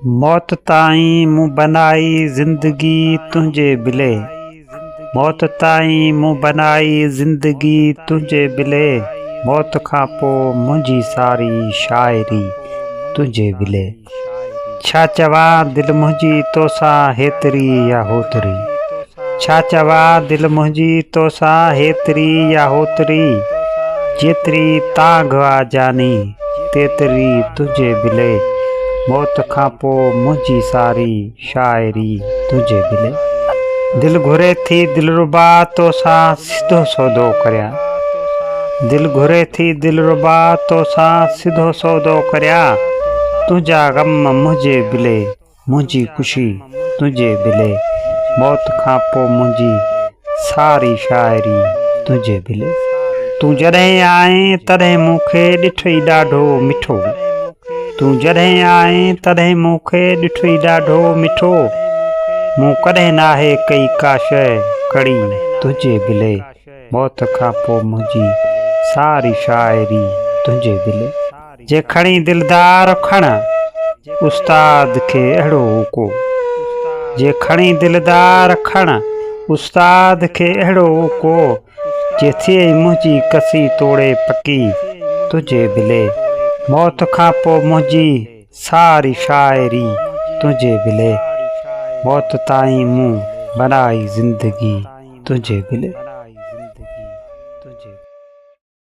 موت تائين مون بنائي زندگي تنهنجي بلي موت تائين مون بنائي زندگي تنهنجي بلي موت کان پوء منهنجي ساري شاعري تنهنجي بلي ڇا چوان دل منهنجي توسان هيتري يا هوتري. ڇا چوان دل منهنجي توسان هيتري يا هوتري جيتري تانگهه آ جاني تيتري تنهنجي بلي موت کان پو منهنجي ساري شاعري تنهنجي بلي دل گهري ٿي دلربا توسان سڌو سودو ڪريان دل گهري ٿي دلربا توسان سڌو سودو ڪريان تنهنجا غم منهنجي بلي. منهنجي خوشي تنهنجي بلي. موت کان پوء منهنجي ساري شاعري تنهنجي بلي. تون جڏهن آئين تڏهن مون کي ڏٺئي ڏاڍو مٺو. تون جڏهن آئين تڏهن مون کي ڏٺئي ڏاڍو مٺو. مون ڪڏهن ناهي ڪئي ڪا شيء ڪڙي تنهنجي بلي. موت کان پوء منهنجي ساري شاعري تنهنجي بلي. جي کڻي دلدار کڻ، استاد کي اهڙو اوڪو. جي کڻي دلدار کڻ، استاد کي اهڙو اوڪو. جي ٿئي منهنجي ڪسي توڙي پڪي، تنهنجي بلي. موت کان پوء منهنجي ساري شاعري، تنهنجي بلي. موت تائين مون بنائي زندگي، تنهنجي بلي.